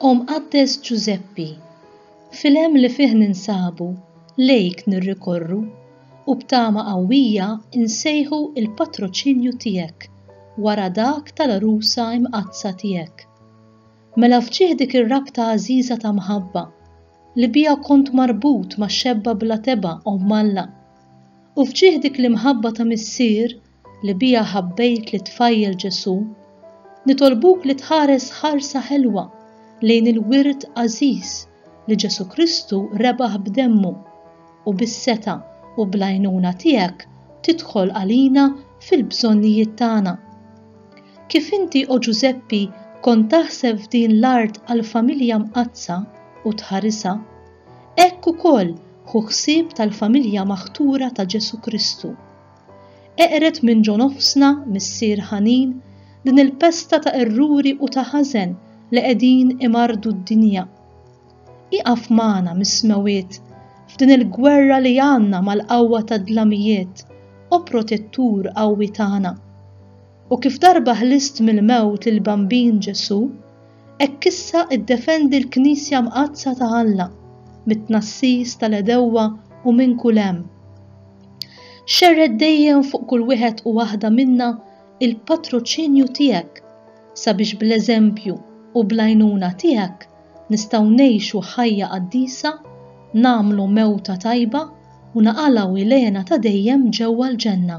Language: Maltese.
O Mqaddes Ġużeppi, fil-hemm li fih ninsabu, lejk nirrikorru u b'tama qawwija nsejħu l-patroċinju tiegħek wara dak tal-għarusa imqaddsa tiegħek. Mela fġieħ dik ir-rabta għażiża ta' mħabba li biha kont marbut ma' xebba bla tebgħa Omm Alla U f'ġieħ dik l-imħabba ta' Missier li biha ħabbejt lit-tfajjel Ġesù, nitolbuk li tħares ħarsa ħelwa lejn il-wirt għażiż li Ġesù Kristu rebaħ b'demmu, u bis-setgħa u bl-għajnuna tiegħek tidħol għalina fil-bżonnijiet tagħna. Kif inti, O Ġużeppi, kont taħseb f'din l-art għall-familja mqaddsa u tħarisha, Hekk ukoll ħu ħsieb tal-familja maħtura ta' Ġesù Kristu. Eqred minn ġo nofsna, Missier ħanin, din il-pesta ta' erruri u ta' ħażen li qegħdin imarrdu d-dinja. Ieqaf magħna mis-smewwiet f'din il-gwerra li għandna mal-qawwa tad-dlamijiet, O Protettur qawwi tagħna. U kif darba ħlist mill-mewt lill-Bambin Ġesù, Hekk issa iddefendi l-Knisja Mqaddsa ta' Alla mit-tnassis tal-għedewwa u minn kull hemm. Xerred dejjem fuq kull wieħed u waħda minna l-patroċinju tiegħek sabiex bl-eżempju u bl-għajnuna tiegħek nistgħu ngħixu ħajja qaddisa, nagħmlu mewta tajba u naqalgħu ilena ta' dejjem ġewwa l-ġenna.